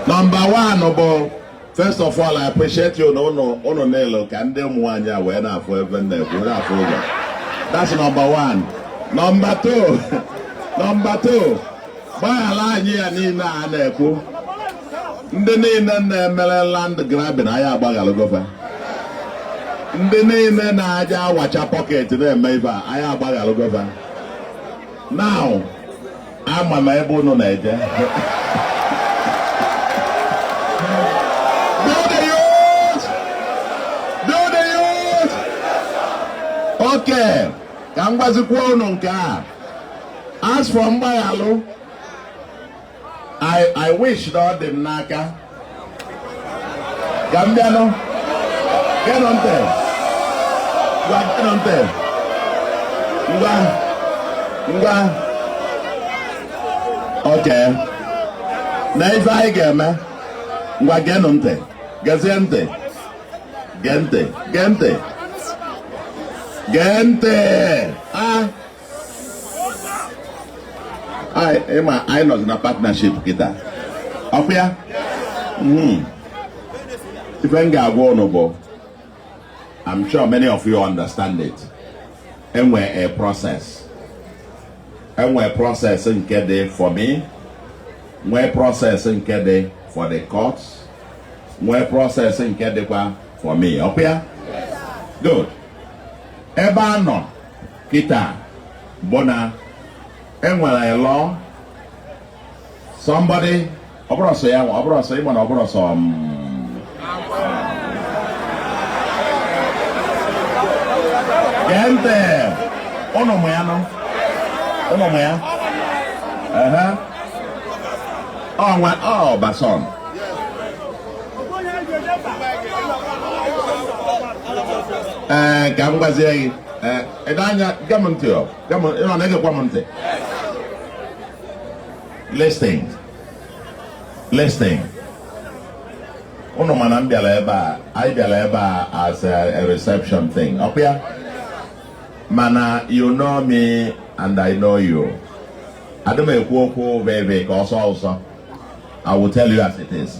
nọmba one bụ first of all I appreciate you na ụnụ niile ka ndị ụmụ nwaanyị a wee na-afụ ebe nna ekwu na-afụ ụlọ that's nọmba one nọmba two nọmba two gbaghara anyị ife niile a na-ekwu ndị niile na-emere land grabbing anyị agbaghalụgo fa ndị niile na-aja awacha pocket na-eme ibe a anyị agbaghalụgo fa now ama m ebe unu na-eje okay ka m gwazikwa unu nke a as for mgbaghalụ I, I wish that ọ dị m n'aka ka m bịanụ geenụ ntị ngwa geenụ ntị ngwa ngwa okay now ife anyị ga-eme ngwa geenụ ntị gezie ntị gee ntị gee ntị gee ntị a ị ma anyị nọzi na partnership kịta ọkwa ya hmm. ife m ga-agwa ụnụ bụ I'm sure many of you understand it e nwere a process e nwere process nke dị for me nwee process nke dị for the courts nwee process nke dịkwa for me ọkwa ya good ebe a nọ Kịta bụ na e nwere a law somebody ọ bụrọ sọ ya nwa ọ bụrọ sọ ị ma na ọ bụrọ sọ m gee ntị ụnụ mụ ya nọ ụnụ mụ ya ehe ọnwa ọbason ee ka m gwazie gị ee ede anya gee m ntị ọ gwa m ị nọ na-egekwa m ntị listen listen ụnụ ma na m bịara ebe a anyị bịara ebe a as a, a reception thing ọkwa ya mana you know me and I know you adị m ekwu okwu veve ka ọ sọọ ụsọ I will tell you as it is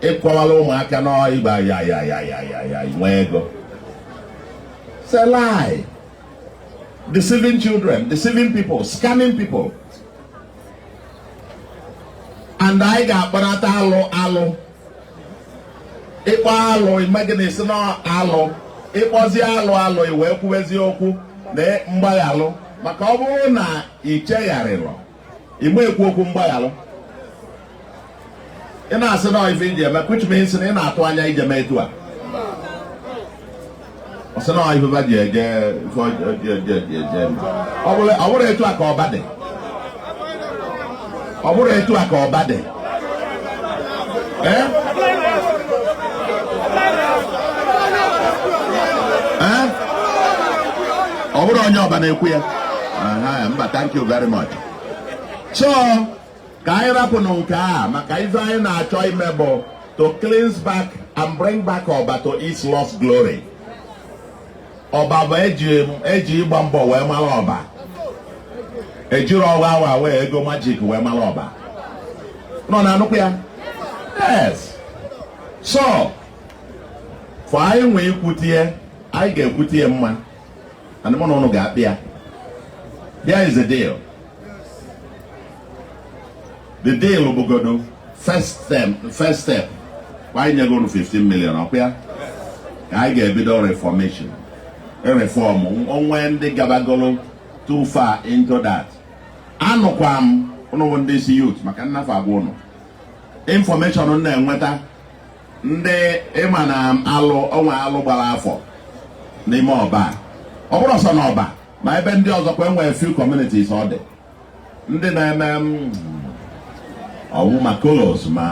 ị gwawala ụmụaka na ị gbaa ya ya ya ya ya ya nwee ego it's a lie deceiving children deceiving people scamming people and anyị ga-akparata alụ alụ ị kpụọ alụ i mee gịnị sị na alụ ị kpụọzi alụ alụ i wee kwuwezi okwu na mgbaghalụ maka ọ bụrụ na ị chegharịrọ mgbe ekwu okwu mgbaghalụ ị na-asị na ọ ife ije eme which means na ị na-atụ anya ije mee etu a ọ sị na ife ba ji eje ife ọjọọ eje eje eje eme. ọ bụrụ ọ bụrụ etu a ka ọba dị ọ bụrụ etu a ka ọba dị ọ bụrụ onye ọba na-ekwu ya mba thank you very much so ka anyị rapụnụ nke a maka ife anyị na-achọ ime bụ to cleanse back and bring back ọba to its lost glory ọba bụ eji ịgba mbọ wee malụ ọba ejirọ ọwa awa wee ego magic wee malụ ọba ụnụ na-anụkwa ya yes so for anyị nwee ikwutie anyị ga-ekwutie mma and mụ na ụnụ ga-akpa ya there is a deal the deal bụgodo first step kwa anyị nyego unu 15 million ọkwa ya ka anyị ga-ebido reformation reform o nwe ndị gabagolo too far into that anụkwa m ụnụ bụ ndị isi youth maka na ife agwa ụnụ information m na-enweta ndị ịma na alụ o nwe alụ gbara afọ n'ime ọba ọ bụrọ sọ na ọba ma ebe ndị ọzọ kwa enwere few communities ọ dị ndị na-eme mm, ọwụ ma colos ma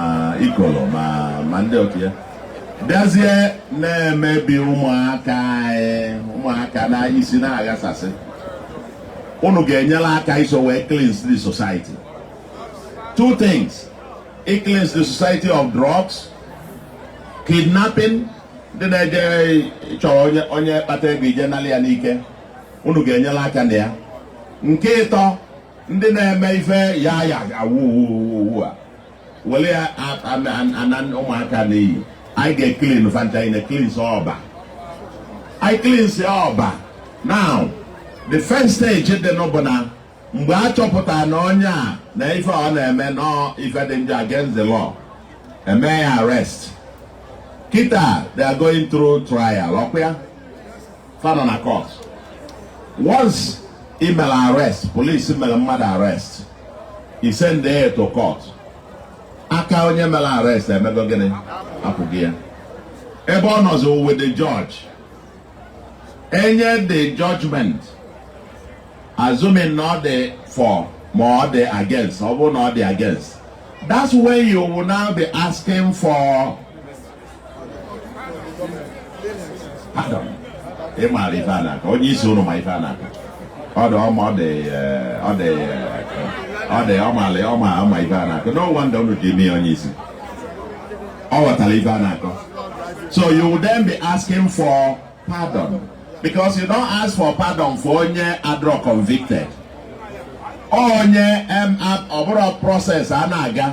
ikolo ma ma ndị otu ya bịazie na-emebi ụmụaka anyị ụmụaka na isi na-aghasasị unu ga-enyere aka iso wee cleanse the society two things i cleanse the society of drugs kidnapping ndị na-eje chọrọ onye kpata ego ije nalị ya n'ike unu ga-enyere aka na ya nke ịtọ ndị na-eme ife ya ya awuwuwu a were ya ana ụmụaka n'iyi anyị ga-eclean fa ncha anyị na-ecleanse ọba anyị cleanse ọba now the first stage dị nụ bụ na mgbe a chọpụtara na onye a na ife ọ na-eme na ọ ife dị njọ against the law eme ya arrest kịta they are going through trial ọkwa ya fa nọ na court once i mere arrest police mere mmadụ arrest i send ya to court aka onye mere arrest emego gịnị apụgo ya ebe ọ nọzi with the judge enye the judgment assuming na ọ dị for ma ọ dị against ọ bụrụ na ọ dị against that's when you will now be asking for ị maara ife a na-akọ onye isi unu ma ife a na-akọ ọ ma ife a na-akọ no wonder unu ji eme ya onye isi ọ ghọtara ife a na-akọ so you will then be asking for pardon because you don't ask for pardon for onye adịrọ convicted onye ọ bụrụ process a na-aga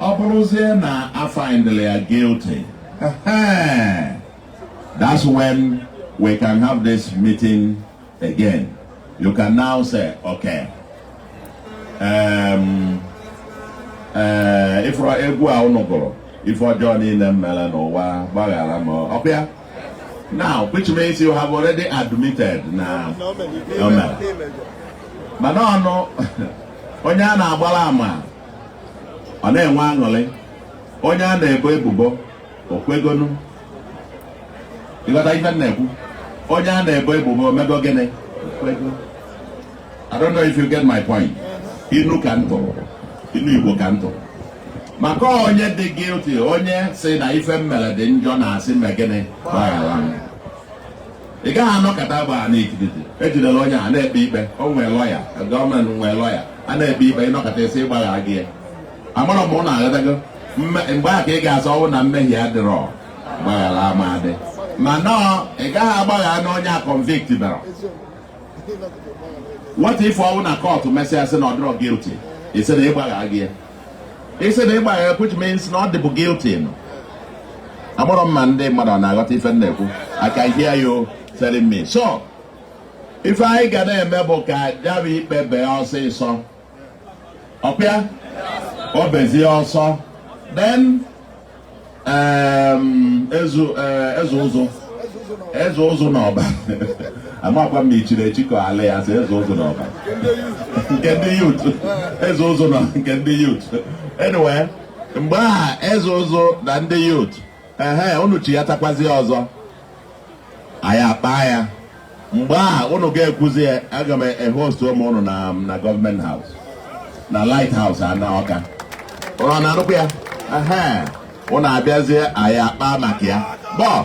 ọ bụrụzie na a findla ya guilty that's when we can have this meeting again you can now say okay um, uh, ị fụrụ egwu a unu gụrụ ife ọjọọ niile m mere n'ụwa gbaghara m ọkwa ya now which means you have already admitted na o mere mana ọnụ onye a na-agbara ama ọ na-enwe aṅụrị onye a na-ebo ebubo o kwegonụ ị ghọta ife m na-ekwu onye a na-ebo ebubo o mego gịnị o kwego I don't know if you get my point inu ka m tụ inu Igbo ka m tụ maka onye dị guilty onye sị na ife m mere dị njọ na-asị mee gịnị gbaghara m ị gaghị anọkata gbaa nkịtị e jidela onye a na-ekpe ikpe o nwee lawyer government nwee lawyer a na-ekpe ikpe ị nọkata sị ị gbagharago ya amarọ m unu aghọtago Mme- mgbe a ka ị ga-asị ọ wụ na mmehie adịrọ gbaghara ama adị mana ị gaghị agbagharanụ onye a convict berọ what if ọ wụ na court mesịa sị na ọ dịrọ guilty ị sị na ị gbaghago ya ị sị na ị gbagha which means na ọ dịbu guilty nụ amarọ m ma ndị mmadụ ọ na-aghọta ife m na-ekwu I can hear you telling me so ife anyị ga na-eme bụ ka ya bụ ikpe bee ọsịsọ ọ bịa o bezie ọsọ then um, ezu uh, Eze Ụzụ Eze Ụzụ na Ọba amakwa m ị chiri echi ka ala ya sị Eze Ụzụ na Ọba nke ndị youth Eze Ụzụ na nke ndị youth anyway mgbe aha Eze Ụzụ na ndị youth ehe unu chihatakwazie ọzọ anyị akpaa ya mgbe aha unu ga-ekwuzi ya aga m ehost ụmụ unu na na Government House na Light House a na Ọka unu na-anụkwa ya ehe unu abịazie anyị akpaa maka ya bọọ